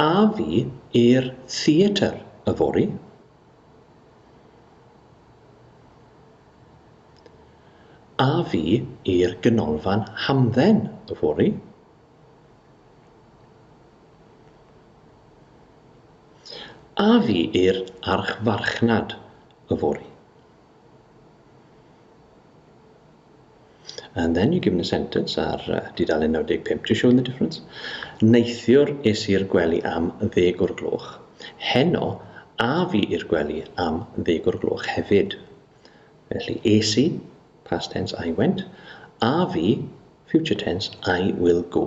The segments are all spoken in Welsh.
A fi i'r theatr yfory? A fi i'r Ganolfan Hamdden yfory? A fi i'r Archfarchnad yfory? And then you're given a sentence ar uh, dudalen 95 to show the difference. Neithiwr es i'r gwely am ddeg o'r gloch. Heno, a fi i'r gwely am ddeg o'r gloch hefyd. Felly, es i, past tense, I went. A fi, future tense, I will go.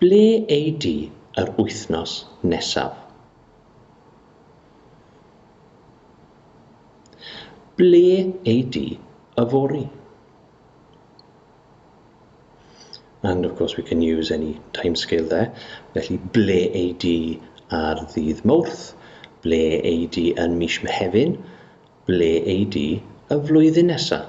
Ble ei di yr wythnos nesaf? Ble ei di yfory? And of course we can use any timescale there. Felly, ble ei di ar ddydd Mawrth? Ble ei di yn mis Mehefin? Ble ei di y flwyddyn nesaf?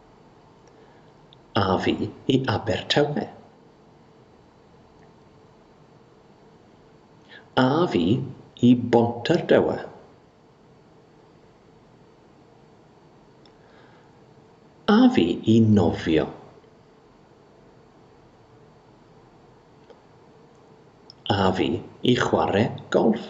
A fi i Abertawe. A fi i Bontardawe. A fi i nofio. A fi i chwarae golff.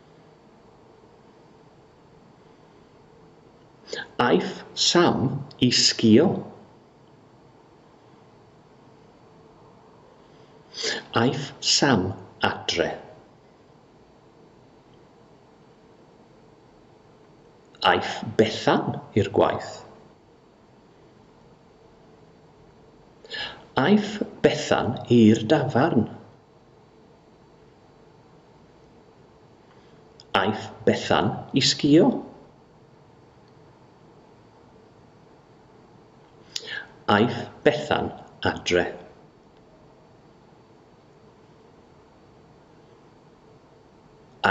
Aeth Sam i sgïo. Aeth Sam adre. Aeth Bethan i'r gwaith. Aeth Bethan i'r dafarn. Aeth Bethan i sgïo. Aeth Bethan adre.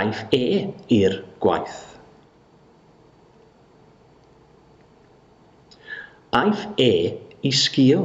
Aeth e i'r gwaith. Aeth e i sgïo.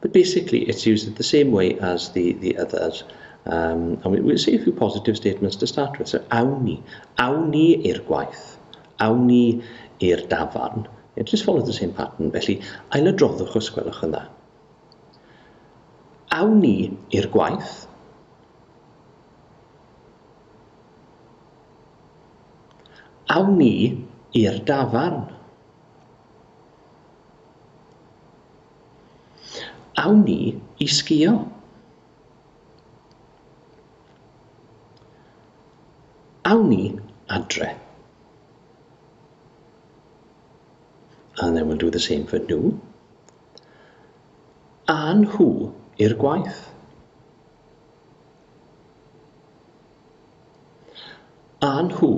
But basically it's used in the same way as the, the others. Um, and we, we'll say a few positive statements to start with. So, awn ni. Awn ni i'r gwaith. Awn ni i'r dafarn. It just follows the same pattern. Felly, ailadroddwch os gwelwch yn dda. Awn ni i'r gwaith. Awn ni i'r dafarn. Awn ni i sgïo! Awn ni adre. And then we'll do the same for nhw. A nhw i'r gwaith. A nhw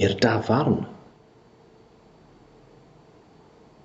i'r dafarn.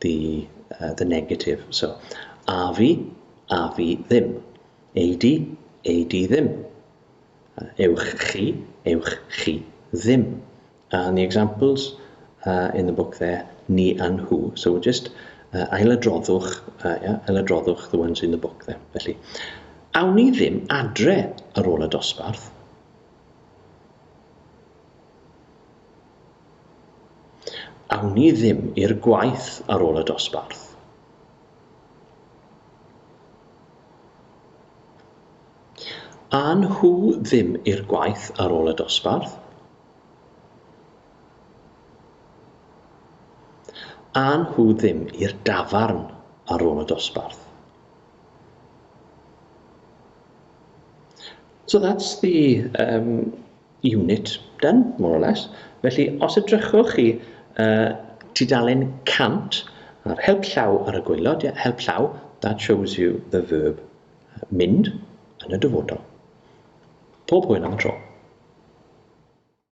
the, uh, the negative. So, a fi, a fi ddim. Ei di, ei di ddim. Uh, ewch chi, ewch chi ddim. Uh, and the examples uh, in the book there, ni and who. So we'll just uh, ailadroddwch, uh, yeah, ailadroddwch the ones in the book there. Felly, awn ni ddim adre ar ôl y dosbarth. Awn ni ddim i'r gwaith ar ôl y dosbarth? A nhw ddim i'r gwaith ar ôl y dosbarth? A nhw ddim i'r dafarn ar ôl y dosbarth? So that's the um, unit done, more or less. Felly, os edrychwch chi uh, tudalen 100 a'r help llaw ar y gwaelod, yeah, help llaw, that shows you the verb mynd yn y dyfodol. Pob hwyl am y tro.